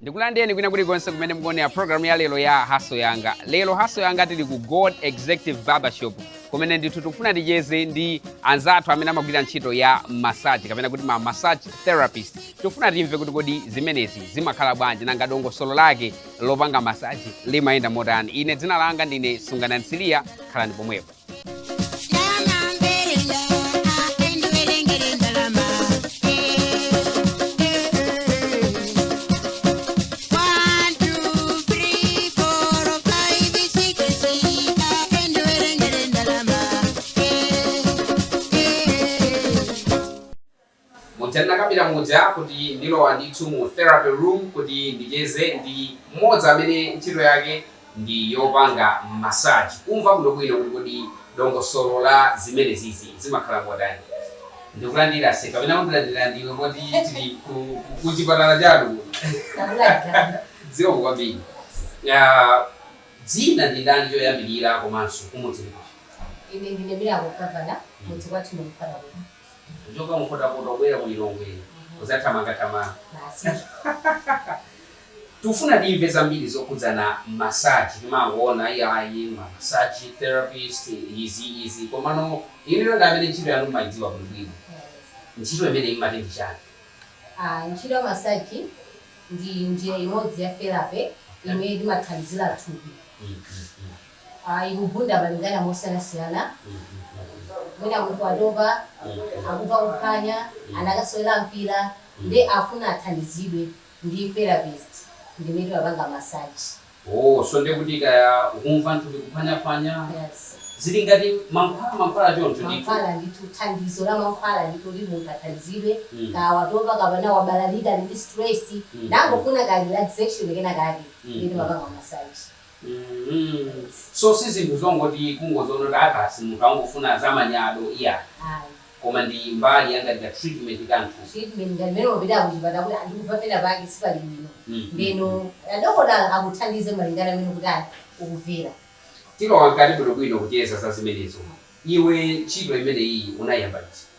ndikulandireni kwina kulikonse kumene mukuonera program ya lero ya Haso Yanga lero Haso Yanga tili ku gold executive barbershop kumene ndithu tikufuna ticheze ndi anzathu amene amagwira ntchito ya massage kapena kuti ma massage therapist tikufuna timve kuti kodi zimenezi zimakhala bwanji nanga dongosolo lake lopanga massage limayenda motani ine dzina langa ndine Sunganani Siliya khalani pomwepo ndinakambira muja kuti ndilowa ndithu mu therapy room kuti ndicheze ndi mmodzi amene ntchito yake ndi yopanga massage kumva bwinobwino kuti kodi dongosolo la zimenezizi zimakhala motani ndikulandira ase kapena undilandira ndiwe poti tili ku, ku, ku chipatala chanu kuno Takulandira. zikomo kwambiri Ah, dzina ndi ndani choyambirira komanso kumudzi ndi kuti Ine ndine Miracle Kavana, mudzi wathu ndi Nkhotakota kuno. Kuchoka ku Nkhotakota kubwera ku Lilongwe kudzathamanga thamanga basi tikufuna timve zambiri zokhudzana massage timangoona iyayi ma massage therapist izi izi komano inuyo ndi amene ntchito yanu mmaidziwa bwino bwino ntchito imeneyi imati ndi chani? Ah, ntchito ya massage ndi njira imodzi ya therapy imene imathandizira thupi. ikubwera malingana mosiyanasiyana mwina munthu watopa akumva kuphwanya anakasewera mpira nde afuna athandizidwe ndi therapist ndimene timapanga massage Oh so ndiye kuti kaya ukumva mthupi kuphwanyaphwanya yes zili ngati mankhwala mankhwala choncho ndithu mankhwala ndithu thandizo la mankhwala ndithu kuti munthu athandizidwe Mm. kaya watopa kapena wabalalika ali ndi stress Mm, nangofuna ka relaxation kenakake Mm, ndiye timapanga massage mm so sizinthu zongoti kungoziona kuti ayi basi munthu angofuna zamanyado iyayi Ayi. koma ndi mbali ya ngati ka treatment ka mthupi treatment ngati mmene umapita kuchipatala kuti ah ndikumva pena pake sipali bwino Mm. ndeno adokotala akuthandize malingana ndi mmene kuti ayi ukumvera tilowa mkati bwinobwino kucheza za zimenezo iwe ntchito imeneyi unayamba liti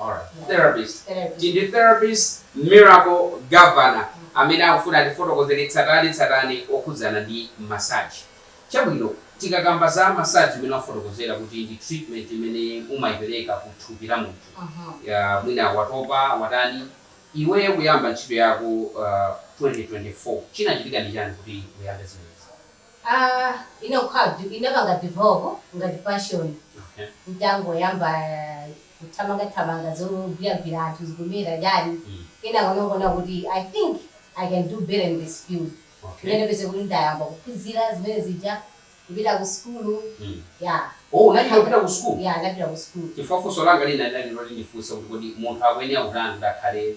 Alright therapist Therapist. Ndi therapist Miracle Gavana amene akufuna atifotokozele tsatane tsatane wokhudzana ndi massage. Chabwino tikakamba za massage imene wafotokozela kuti ndi treatment imene umayipeleka ku thupi la munthu Ya mwina watopa watani Iweyo kuyamba ntchito yako 2024 chinachitika ndi chani kuti uyambe zimenezi? Aaa inakhala inapanga develop ngati passion okay ntangoyamba kuthamanga thamanga zogwira gwira anthu zikuyenda chani kenako ndinangoona kuti i think i can do better in this field okay ndiye nkupezeka kuti ndayamba kuphunzira zimene zija kupita ku sukulu yeah Oh unapita ku sukulu? yeah ndinapita ku sukulu. Chifukwa funso langa lina lidali loti ndifunse kuti kodi munthu akuyenera kutani kuti akhale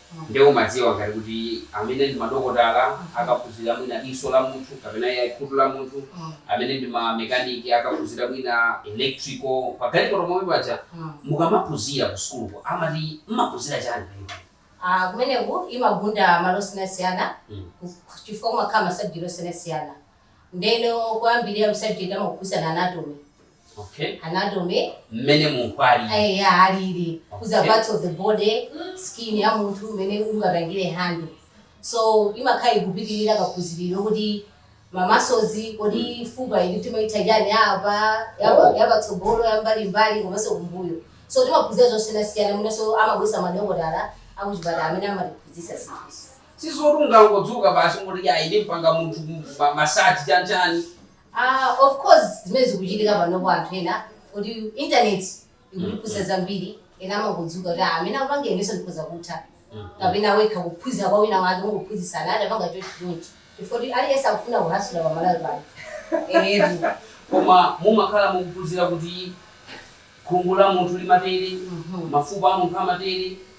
Nde umadziwa ngati kuti amene ndi madokotala akaphunzira mwina diso la munthu kapena yayi khutu la munthu, amene ndi ma mechanic akaphunzira mwina electrical pa galimoto momwe paja. Mukamaphunzira ku sukuluko amati mumaphunzira chani kwenikweni? Aaa kumeneku imagunda malo osiyanasiyana chifukwa kumakhala ma subject osiyanasiyana. Ndeno kuyambira mu subject amakuphunzitsani anatomy okay anatomy mmene munthu alili eya alili kudza okay. parts of the body skin ya munthu mmene ungapangire handle so imakhala ikupitirira kuphunzira kuti ma muscles kodi mm. fupa ili timaitha chani apa oh. yapatsogolo yambalimbali komanso kumbuyo so timaphunzira zosiyanasiyana mwinanso amabweretsa madokotala akuchipatala amene amatiphunzisa zinthuzi Sizoti ungangodzuka basi ungoti yayi ndimpanga munthu massage chani chani. Aaa of course zimene zikuchitika panopo anthu ena oti internet ikutiphunzitsa zambiri ena amangodzuka kuti aah amene akupanga inenso ndikhoza kutha kapena wekha kuphunzira kwa wina wake kungophunzitsana aah tapanga chonchi chonchi chifukwa choti aliyense akufuna kuhasula pa Malawi pano eetu. Koma mumakhala mukuphunzira kuti khungu la munthu limatere, mafupa a munthu amatere,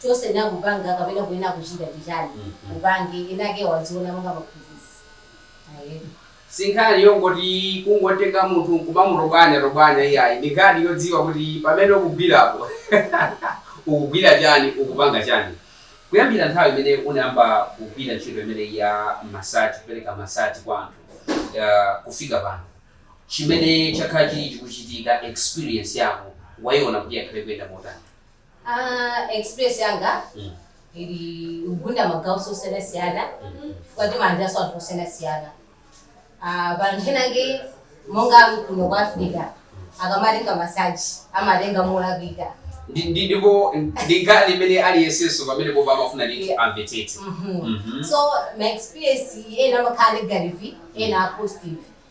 Chilichonse ukupanga kapena ukuyenera kuchita ndi chani? Upange, wina wake aziona monga mphunzitsi. Aheb. Sinkhani yongoti kungotenga munthu nkumamutobwanya tobwanya iyayi, ndi nkhani yodziwa kuti pamene ukugwirapo ukugwira chani, ukupanga chani. Kuyambira nthawi imene unayamba kugwira ntchito imeneyi ya massage, kupereka massage kwa anthu, kufika pano, chimene chakhala chili chikuchitika, experience yako waiona kuti yakhala ikuyenda motani? Aaa experience yanga ili kugunda magawo osiyanasiyana chifukwa timalandiranso anthu osiyanasiyana Ah, pali anthu ena ake monga kuno kwa africa akamatenga masaji amatenga molakwika Ndi- ndi- ndipo ndi nkhani imene aliyensenso pamenepopo amafuna ndithu Yeah. amvetsetse Mhm. Mhm. so ma experience ena amakhala negative ena a positive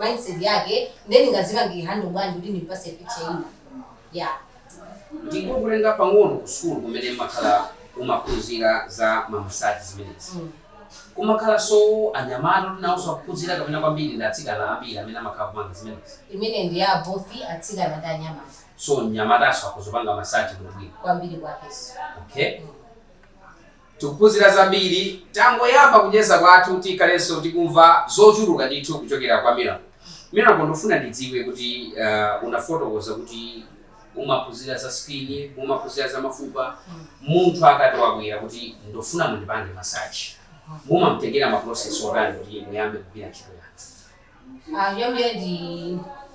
mindset yake nde ndingazipange handle bwanji kuti ndimpase picture ina yeah ndingokutenga pang'ono ku sukulu kumene umakhala umaphunzira za ma massage zimenezi Mm. kumakhalanso anyamata kuti nawonso akuphunzira kapena kwambiri ndi atsikana ambiri amene amakhala kupanga zimenezi imene ndi ya both atsikana ndi anyamata so mnyamatanso akuzapanga massage bwinobwino kwambiri kwakeso okay Tikuphunzira zambiri. Tangoyamba kucheza kwathu tikhalenso tikumva zochuluka ndithu kuchokera kwa Miracle. Miracle ndufuna ndidziwe kuti unafotokoza kuti umaphunzira za skin, umaphunzira za mafupa. Munthu akati wabwera kuti ndufuna mundipange massage, mumamtengera ma process otani kuti muyambe kugwira ntchito yanu? Ah, choyambirira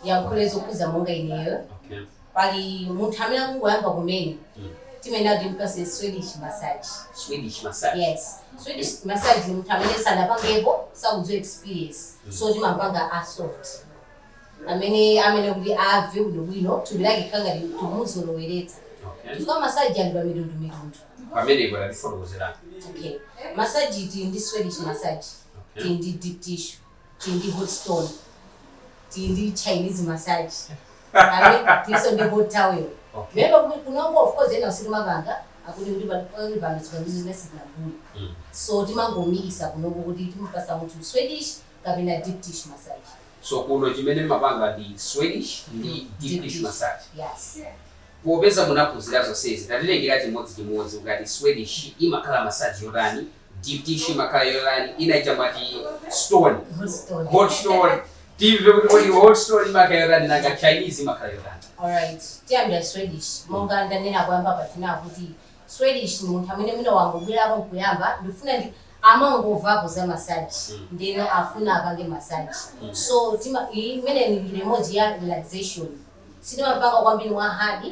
ndiyankhule zokhuza monga ineyo okay pali munthu amene akungoyamba kumene Mm. timayenera kuti timpase swedish massage swedish massage yes swedish massage ni munthu amene sanapangepo sakudziwa experience so timampanga a soft amene amene kuti ave bwinobwino thupi lake kukhala ngati tikumuzoloweretsa okay chifukwa massage ali pa mitundu mitundu pamenepo tatifotokozerani okay massage tili ndi swedish massage tili ndi deep tissue tili ndi hot stone tili ndi chinese massage Awe, tilinso ndi hot towel Okay. lero kuti kunoko of course ena sitimapanga akuti kuti pali pano zipangizo zimene sitinagule Mm. so timangomikisa kunoko kuti timupatsa munthu swedish kapena deep tissue massage so kuno chimene mumapanga ndi swedish ndi deep Deep tissue tissue. massage yes popeza munaphunzira zonsezi tatitengereni chimodzichimodzi ukati swedish imakhala massage yotani Deep tissue imakhala yotani? Ina ija mwati stone, Hot stone. hot stone. Timve kuti kodi hot stone imakhala yotani nanga Chinese imakhala yotani. Alright, tiyambira Swedish. Monga ndanena kuyamba paja kuti Swedish ni munthu amene mwina wangobwerako nkuyamba ndifuna ndi amangovapo za massage Mm. ndeno afuna apange massage. Mm. So tima iyi imene ni njira imodzi ya relaxation. Sitimapanga kwambiri mwa hard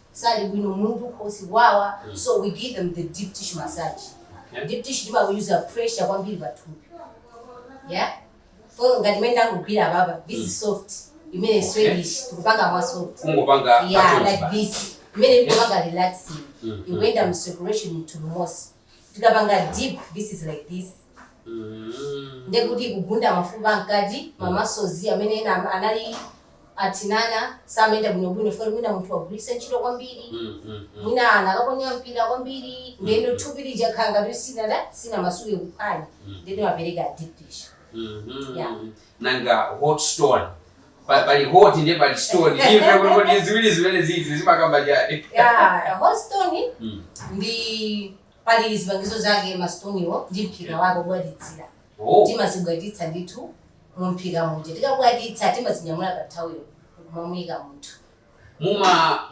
sali bwino mutu khosi kuwawa so we give them the deep tissue massage Okay. deep tissue tima use pressure kwambiri pathupi yeah so ngati imene ndakugwira apapa this is soft imene Okay. swedish tikupanga mwa soft Kungopanga yeah motere like basi. this imene tikupanga relaxing Mhm. ikuenda mu circulation into the muscles tikapanga deep this is like this Mm. ndekuti kugunda mafupa mkati ma muscles amene ena anali Athinana, samayenda bwinobwino chifukwa mwina munthu wagwiritsa ntchito kwambiri mm, mm, mm. mwina anakaponya mpira kwambiri mm, ndeno mm. thupi limakhala ngati sinada sinamasuke kuphwanya mm. ndeno timapereka deep tissue mm -hmm. yeah. nanga hot stone pali hot ndiye pali stone ziwiri zimenezizi zimakamba chani yeah, hot stone mm. ndi Pali zipangizo zake, masitoniwo ndi mphika wake wobwatitsira. Timazibwatitsa ndithu mumphika muja. Tikabwatitsa, timazinyamula kathawuloko n'kumamuika munthu.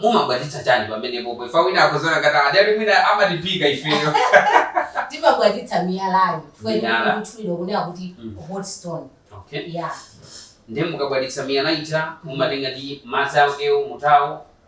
Mumabwatitsa chani pamenepo? Chifukwa wina akhoza kuona ngati adali mwina mumatiphika ifeyo. Timabwatitsa miyalayo chifukwa imene ikutchulidwa kunena kuti hot stone. Ndiye mukabwatitsa miyala ija, mumatenga ndi madzi akewo, mutawo,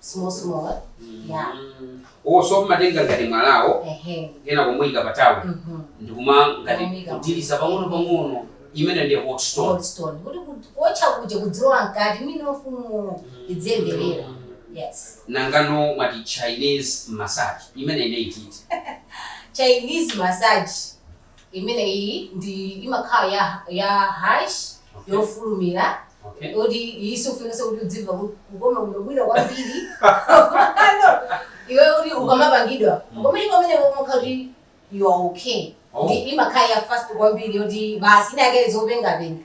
small small eh? yeah oh so mmatenga ngati mwalawo ehe kena kumuyika pa thawulo mhm ndikuma ngati kudiniza pang'ono pang'ono imene ndi hot stone goldstone kuti kuti- kuotcha kuja kuzilowa mkati minofuyo izimverera yes nangano mukati chinese massage imeneyi ndiye iti chinese massage imeneyi ndi imakhala ya ya harsh Okay. yofulumira Okay. kuti iyi siifunikanso kuti uzimva ku- kukoma bwinobwino kwambiri Ano, iwe kuti ukamapangidwa Mm. komaliza kumene umakhala kuti you are okay Oh. ndi imakhala ya fast kwambiri yoti basi inake zopengapenga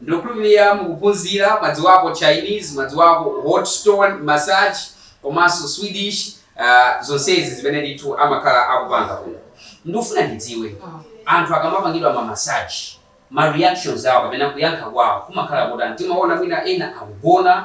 Ndikukhulupirira mukuphunzira mwadziwapo Chinese, mwadziwako hot stone massage komanso Swedish zonsezi zimene ndithu amakhala akupanga kuno. Ndikufuna ndidziwe anthu akamapangidwa ma massage ma reactions awo kapena kuyankha kwawo kumakhala kotani? Timaona mwina ena akugona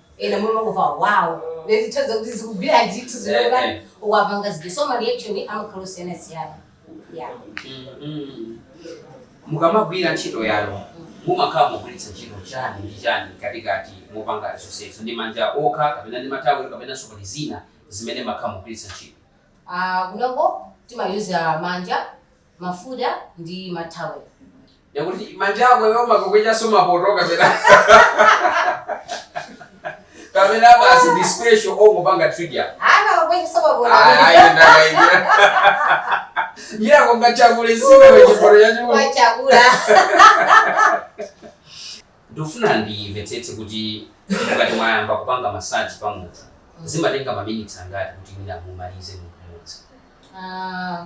ena mumangomva wow kutanthauza kuti zikugwira ndithu zikukoma Eh, eh. ukuwapangazidi so ma reaction amakhala osiyana siyana yeah Mhm. mukamagwira ntchito yanu mumakhala mukugwiritsa ntchito chani ndi chani mkatikati mopanga zonsezo ndi manja okha kapena ndi mathawelo kapena so pali zina zimene mumakhala mukugwiritsa ntchito Ah, kunoko timayuza manja mafuta ndi mathawelo Ndiye kuti manja ako iwe umakwechanso mapoto kapena kapena basi ndi special ongopanga trivia Hana wakwenda sababu ayendakaimira mira konga chakule sime wechiporo chachikulu kwa chakula. ndofuna ndimvetsetse kuti mukati mwayamba kupanga masaji pa munthu zimatenga maminitsi angati kuti mwina mumalize munthu mmodzi Ah,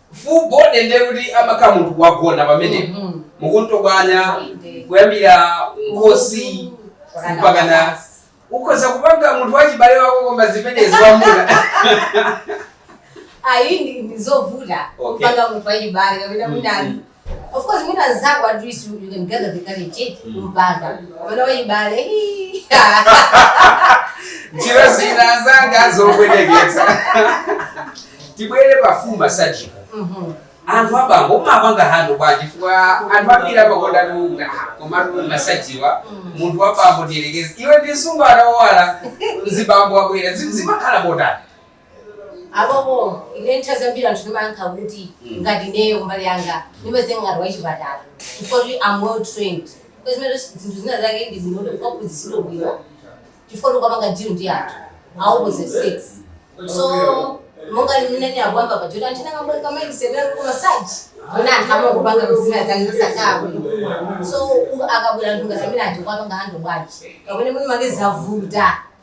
Full body ndiye kuti amakhala munthu wagona pamenepo. Mhm. Mukumutobwanya Inde. kuyambira nkhosi Mpaka mpaka na mapazi. ukhoza kupanga munthu wachibale wako koma zimenezi wamwamuna. ayi ndi- ndi zovuta Okay. kupanga munthu wachibale kapena kuti Mm, ali- mm. Of course mwina anzako at least you, you can gather the courage eti mm. kumpanga kapena wachibale njira zinazake zokwenyeketsa tibwere pamasajipo mhm. anthu abambo umapanga hando bwanji chifukwa anthu ambiri amakonda lunga kumalunga masajiwa mm. munthu wabambo tiyerekeze iwe ndi mtsikana wowala mzibambo wabwera zimakhala motani Apopo ine nthawi zambiri anthu ndimayankha kuti ngati ineyo kumbali yanga ndimaziona ngati wachipatala chifukwa kuti am well trained kwa zimene zinthu zina zake ndi bwino kuti ukaphunzitsidwe bwino chifukwa kuti ukapanga deal ndi anthu a opposite sex so monga limene ndinakuyamba pa joti anthu ndakambwe ka mindset yanu koma saji mwina anthu amangopanga mzina zake zasakaa bwino so u- akabwera anthu ngati amene aja kuwapanga hando bwanji kapena mwini make zavuta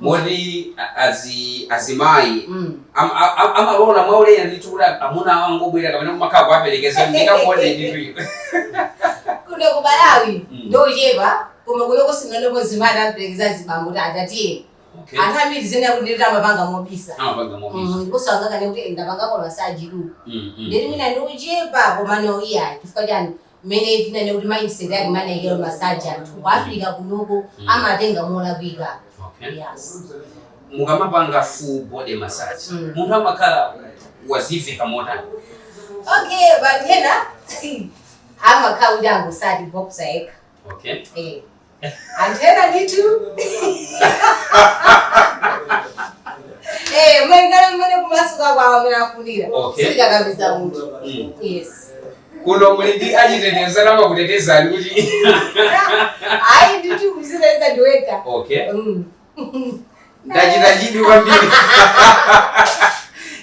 moti azimayi amalola mwaulere ndithu kuti amuna awo angobwera kapena kumakhala kuwaperekeza ndikakuone ndituyo kuno ku malawi mm. ndiochepa koma kunoko sindinaonepo mzimayi akuperekeza azibambo kuti adzathiye anthu ambiri ndinene kuti ndithu amapanga mobisa mm, ndiponso angakane kuti ndapangako masaji tu mm, ndiye kuti mwina ndiochepa koma kuno iyayi chifukwa chani mmene tinene kuti mindset yake imene anaikira massage anthu ku Africa kunoko Mm. amatenga molakwika Okay. yes mukamapanga full body massage Mm. munthu amakhala waziveka motani okay bwanji ena amakhala kuti angotsala boxer yekha okay eh anthu ena ndithu Eh, malingana mmene kumasuka kwawo mmene afunira Okay. sitikakamiza munthu Mm. yes kuno muli ndi achitetezo amene amakutetezani kuti ayi ndithu kuziteteza ndiwekha okay Mm. ndachita chidwi kwambiri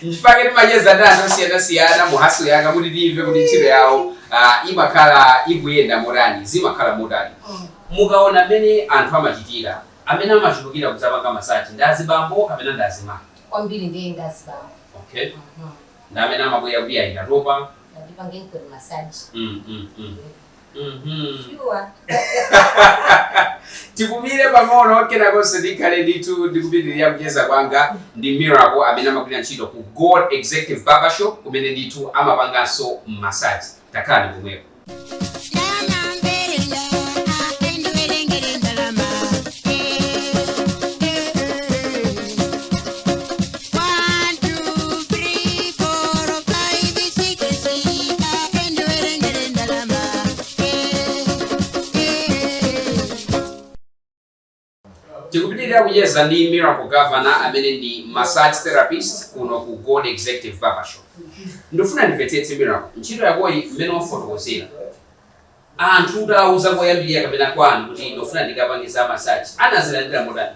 ndipaja timacheza ndi anthu osiyanasiyana mu hustle yanga kuti timve kuti ntchito yawo ah, imakhala ikuyenda motani zimakhala motani Mm. mukaona amene anthu amachitira amene amachulukira kudzapanga masaji ndi azibambo kapena ndi azimayi kwambiri ndiye ndazibambo okay ndi amene amabwera kuti ayi ndatopa ndipangenikoni masaji mm, mm, mm. Mhm. Sure. tipumire pang'ono kenakonso ndikhale ndithu ndikupitiriza kucheza kwanga ndi miracle amene amagwira ntchito ku gold executive barbershop kumene ndithu amapanganso masaji takhalani pomwepo tikupitiriza kucheza ndi miracle governor amene ndi massage therapist kuno ku gold executive barbershop ndifuna ndimvetsetse miracle ntchito yakoyi mmene wafotokozera anthu utawauza koyambirira kapena kwanu kuti ndofuna ndizikapanga za massage anazilandira motani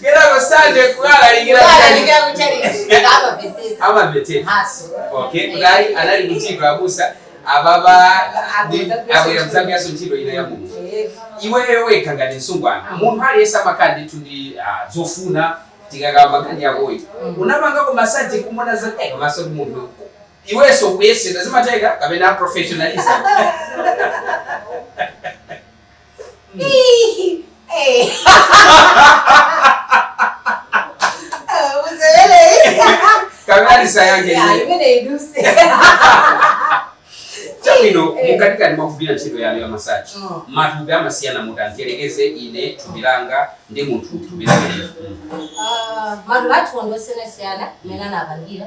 Kenako pa Sande kukalalikira kukalalikira ku chalichi amapesesa amamvetera Ah so okay kudali anali mu tchitchi abusa amagwirabe zambirinso ntchito ina ya mulungu iweyo wekha ngati msungwana munthu aliyense amakhala ndithu ndi ah, zofuna tikakamba nkhani yakuti ukamapanga masaji kumona za eh, maso ndi maso munthu iwenso kuyesedwa zimatheka kapena professionalism kamakulitsa chabwino mukatikati mwakugwira ntchito yanu ya masaji mm. matupi amasiyana mutandiyerekeza ine thupi langa ndi munthu thupi langa ah, matupi athu ndi osiyanasiyana mmene anapangira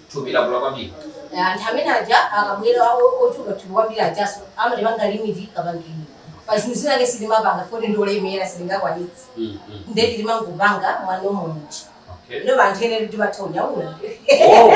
thupi lakula kwambiri. Anthu amene aja akabwera ochuluka thupi kwambiri ajaso amatipanga limit kapangidwe pa zinthu zinazake sitimapanga poti ndi olemera sitingakwanitse mm, mm. nde timangopanga mwa normal munthu okay. inu anthu ena mumatha kunyamula oh.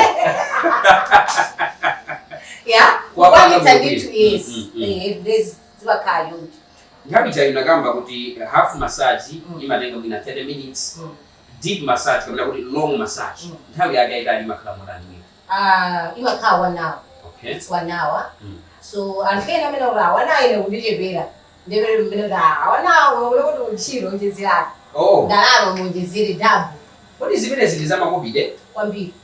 ya kukwanitsa ndithu yes mm, mm, mm. eh, eh, zimakhala choncho nthawi yapita munakamba kuti half massage mm. imatenga mwina 30 minutes mm. Deep massage kapena kuti long massage nthawi yake yaitali imakhala motani mwina? Aaah imakhala 1 hour Okay. it's 1 hour Mm. so anthu ena amanena kuti ah 1 hour ine ikundichepera ndiye pali mmene kuti ah 1 hour ndiye kuti ntchito yoonjezeratu Oh. ndalama muonjezere double Kodi zimenezi ndi zamakobidi? kwambiri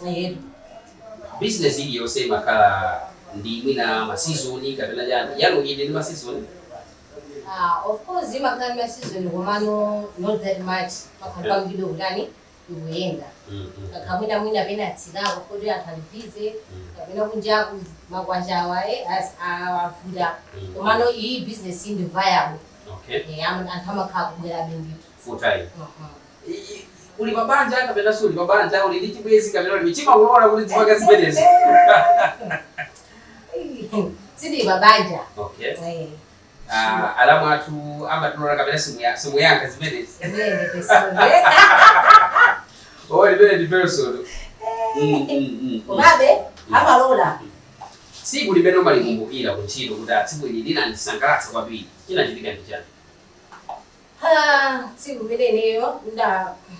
Tayeb. Business iliyonse imakhala ndi mwina ma season kapena chani. Yanu ili ndi ma season? Ah, of course imakhala ndi ma season komano not that much. Imakhala period kutani ikuyenda. Mm, mm. Kaya mwina mwina pena imatsikako kuti anthu ali busy kapena kunjaku makwachawa eh ah avuta. Mm. Komano iyi business ndi viable. Okay. Eh, am- anthu amakhala kubwera be ndithu. Full time. Mhm. uli pa banja kapena suli pa banja, uli ndi chibwenzi kapena ulibe, amakulola kuti uzipanga zimenezo. Sindili pa banja. Okay. Eh. Ah, alamu athu amakulolani kapena simuya- simuyankha zimenezi. Imeneyo ndi personal. Oh, imeneyo ndi personal. Mm, mm, mm, mm. Komabe amalola. tsiku limene mumalikumbukira kuntchito kuti ah tsiku ili linandisangalatsa kwambiri chinachitika ndi chani Tsiku limene ineyo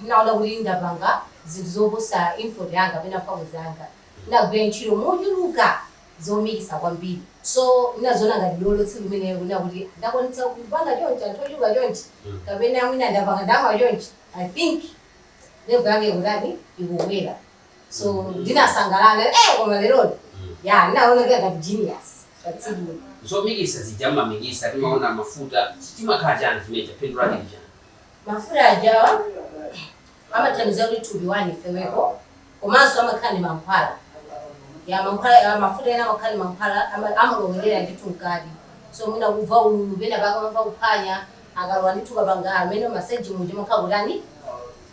ndinaona kuti ndapanga zinthu zoposa effort yanga kapena mphamvu zanga, ndinagwira ntchito mochuluka zochulukitsa kwambiri. So, ndinadziona ngati dolo tsiku limenelo kunena kuti ndakwanitsa kupanga chonchi, anthu ochuluka chonchi, kapena mwina ndapanga ndalama chonchi. I think level yanga ikutani, ikukwera. so mm. ndinasangalala eh, koma leroli mm. ya ndinaona kuti ngati genius patsiku zomikisa zija mumamikisa timaona mafuta chimakhala chani chimenecho phindu lake ndi chani mafuta ajawa amathandiza kuti thupi lanu lifeweko komanso amakhala ndi mankhwala ya mankhwala mafuta ena amakhala ndi mankhwala amalowerera ndithu mkati so mwina mukumva ululu penapake mumamva kuphanya akalowa ndithu tikapanga amene masaji muja makhala kutani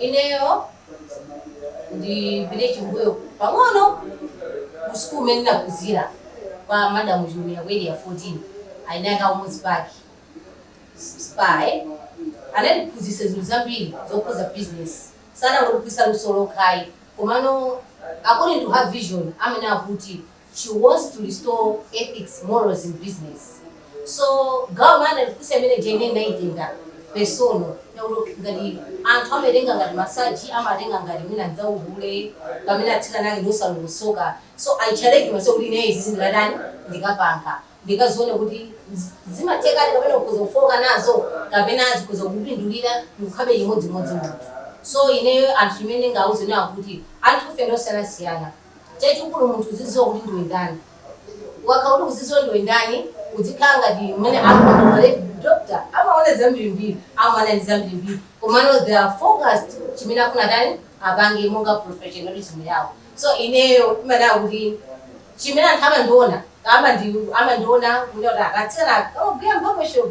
Ineyo ndipite chambuyo pang'ono ku school kumene ndinaphunzira kwa Madam Chilumira ku Area 14, eni ake a Umodzi Park Spa, anandiphunzitsa zinthu zambiri zokhuza business, sanangondiphunzitsa luso lokha ayi komano according to her vision amanena kuti. she wants to restore ethics, morals in business. So gawo maana likusi amene jene ndinaitenga personal naulo ngati anthu amaitenga ngati masaji amatenga ngati mwina nzauhule kapena atsikana ake ndi osalongosoka so i challenge myself kuti ine izizi ndikatani ndikapanga ndikazione kuti zi- zimatheka kapena ukhoza kufooka nazo kapena zikhoza kukupindulira ndikukhalabe chimodzimodzi munthu so ineyo anthu imene ndingauze nawo kuti anthu ufe ndosiyanasiyana chachikulu munthu uzidziwa kuti ndiwe ndani. Ukakhala kuti ukuzidziwa ndiwe ndani, udzikhala ngati mmene akhalira doctor amaona zambirimbiri, amakumana ndi zambirimbiri, komano they are focused chimene akufuna atani apange monga professionalism yawo. So ineyo ndimadabwa kuti chimene anthu amandiona, amandiona kunena kuti atsikana amagwira m'barbershop.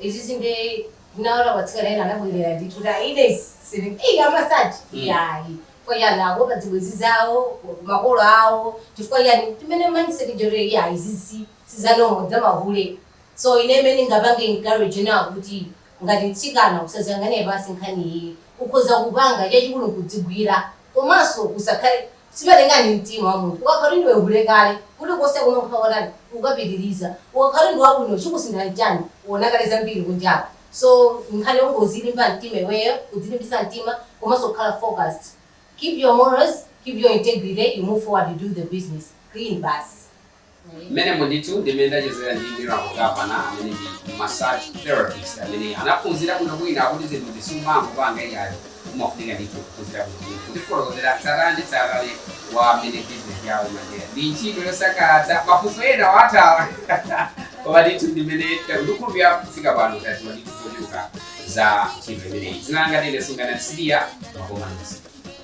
izizi nde ndinaona kuti atsikana ena anabwerera ndithu ta ine siri eyi amasaji Mm. yayi chifukwa chani akuopa zibwenzi zawo makolo awo chifukwa chani timene mindset jore yayi izizi si za normal ndi zamahule so ine imene ndingapange encourage nawo kuti ngati mtsikana usaziyang'anire pansi nkhani iyi ukhoza kupanga chachikulu nkudzigwira komanso usakhale Zimalingana ndi mtima wa munthu. Ukakhala kuti ndiwe hule kale, kuli konse kumene ukhale ukatani ukapitiliza. Ukakhala kuti ndi wabwino chikusintha nchani? Uona kale zambiri kunjaku. So nkhani yongozilimba mtima iweyo, kudzilimbitsa mtima komanso kukhala focused. Keep your morals, keep your integrity, you move forward, you do the business clean basi. Mmenemo ndithu ndi mmene ndachezera ndi Miracle Gavana amene ndi massage therapist amene anaphunzira bwinobwino akuti zinthu izi sumangopanga iyayo umafunika ndithu kuphunzira bwinobwino kutifotokozera tsatane ndi tsatane wa mmene bizinesi yawo imayendera ndi ntchito yosangalatsa mafunso ena wathawa koma ndithu ndi mmene ndikukhulupirira kufika pano tadziwa ndithu zochuluka za ntchito imeneyi dzina langa ndine Sungana siya makomanisi